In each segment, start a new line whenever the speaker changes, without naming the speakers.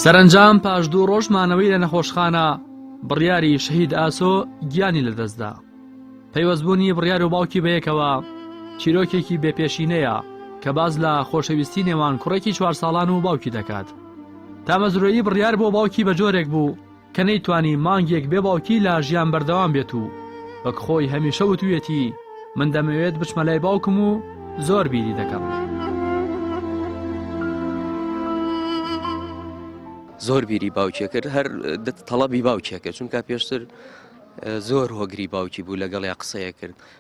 سەرەنجام پاش دوو ڕۆژ مانەوەی لە نەخۆشخانە بڕیاری شەهید ئاسۆ گیانی لەدەستدا پەیوەستبوونی بڕیار و باوکی بەیەکەوە چیرۆکێکی بێپێشینەیە کە باز لە خۆشەویستی نێوان کوڕێکی چوار ساڵان و باوکی دەکات تامەزرۆیی بڕیار بۆ باوکی بە جۆرێک بوو کە نەیتوانی مانگێک بێ باوکی لە ژیان بەردەوام بێت و وەک خۆی هەمیشە وتوویەتی من دەمەوێت بچمە لای باوکم و زۆر بیری دەکەم.
زۆر بیری باوکێ کرد هەر تەڵەبی باوکێکە چونکە پێشتر زۆر هۆگری باوکی بوو لەگەڵ یا قسەیە کرد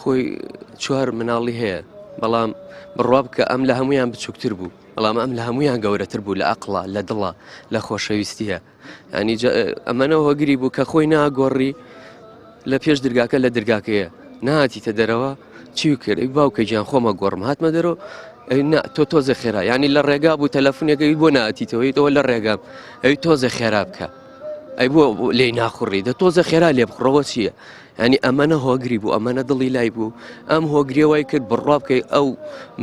خۆی چوار مناڵی هەیە بەڵام بڕوا بکە ئەم لە هەمویان بچووکتر بوو بەڵام ئەم لە هەمویان گەورەتر بوو لە ئەقلا لە دڵە لە خۆشەویستیە ینی ئەمەە هۆگری بوو کە خۆی ناگۆڕی لە پێش درگاکە لە درگاکەیە نهاتیتە دەرەوە چی کرد باوکە گیان خۆمە گۆڕم هاتمە دەرەوە تۆ تۆزە خێرا ینی لە ڕێگا بوو تەلەفونەکەی بۆ ناتیتەوەی تەوە لە ڕێگا ئەوی تۆزە خێرا بکە ئەی بۆ لی ناخوڕی دە تۆزە خێرا لێ بخڕەوە چییە یانی ئەمەە هۆگری بوو ئەمەە دڵی لای بوو ئەم هۆگرێ وای کرد بڕوا بکەی ئەو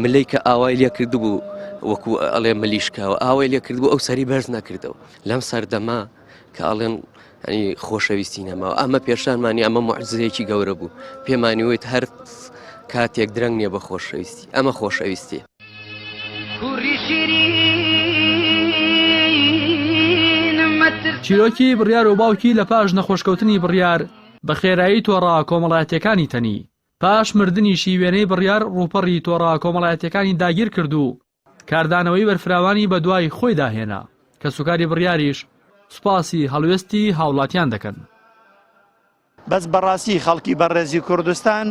ملەی کە ئاوای لێ کرد بوو وەکو ئەڵێ ملیشکاوە ئاوای لێ کرد بوو ئەو سەری بەرز نەکردەوە لەم سەردەما کە ئاڵێن ئەنی خۆشەویستی نەماوە ئەمە پێشانمانی ئەمە معززەیەکی گەورە بوو پێمانیوت هەر کاتێک درەنگ نیە بە خۆشەویستی ئەمە خۆشەویستی
چیرۆکی بڕیار و باوکی لە پاش نەخۆشکەوتنی بڕیار بە خێرایی تۆڕە کۆمەڵایەتیەکانی تەنی پاش مردنیشی وێنەی بڕیار ڕووپەڕی تۆڕە کۆمەڵایەتەکانی داگیر کرد و کاردانەوەی بەرفراوانی بە دوای خۆی داهێنا کە سوکاری بڕیاریش سوپاسی هەڵوێستی هاوڵاتیان دەکەن.
بەس بەڕاستی خەڵکی بەڕێزی کوردستان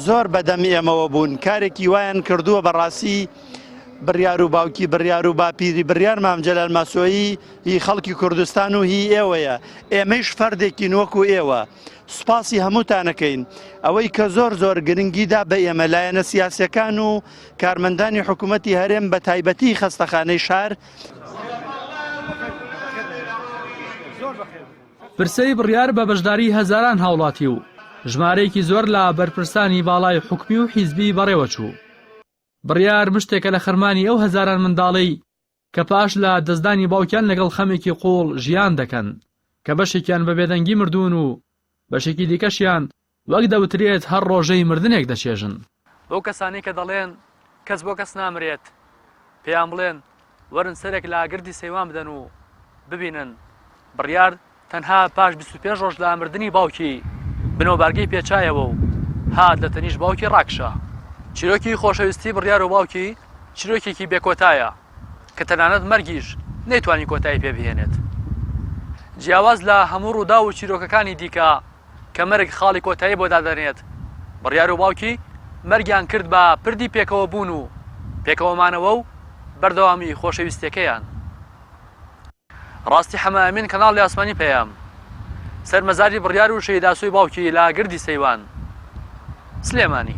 زۆر بەدەم ئێمەوە بوون کارێکی وایان کردووە بەڕاستی بڕیار و باوکی بڕیار و باپیری بڕیار مامجلال ماسۆیی هی خەڵکی کوردستان و هی ئێوەیە ئێمەیش فەردێکی نوەک و ئێوە سوپاسی هەمووتانەکەین ئەوەی کە زۆر زۆر گرنگیدا بە ئێمە لایەنە سیاسەکان و کارمەندانی حکوومەتتی هەرێم بە تایبەتی خەستەخانەی شار
زۆر بەخێر پرسەی بڕیار بە بەشداری هەزاران هاوڵاتی و ژمارەیەکی زۆر لە بەرپرسانی باڵای حکومی و حیزبی بەڕێوە چوو. بڕیار مشتێکە لە خەرمانی ئەو هەزاران منداڵەی کە پاش لە دەستدانی باوکیان لەگەڵ خەمێکی قووڵ ژیان دەکەن کە بەشێکیان بە بێدەنگی مردوون و بەشێکی دیکەشیان وەک دەوترێت هەر ڕۆژەی مردنێک دەچێژن. بەو کەسانەی کە دەڵێن کەس بۆ کەس نامرێت، پێیان بڵێن وەرن سەرێک لە گردی سەیوان بدەن و ببینن بڕیار تەنها پاش بیست و پێنج ڕۆژ لە مردنی باوکی بنەوبارگەی پێچایەوە و هات لە تەنیشت باوکی ڕاکشا. چیرۆکی خۆشەویستی بڕیار و باوکی چیرۆکێکی بێکۆتایە. کە تەنانەت مەرگیش نەیتوانی کۆتایی پێ بهێنێت. جیاواز لە هەموو ڕووداو و چیرۆکەکانی دیکە کە مەرگ خاڵی کۆتایی بۆ دادەنێت، بڕیار و باوکی مەرگیان کرد بە پردی پێکەوەبوون و پێکەوەمانەوە و بەردەوامیی خۆشەویستییەکەیان. ڕاستی حەمە ئەمین کەناڵی ئاسمانی پەیام سەر مەزاری بڕیار و شەهید ئاسۆی باوکی لە گردی سەیوان، سلێمانی.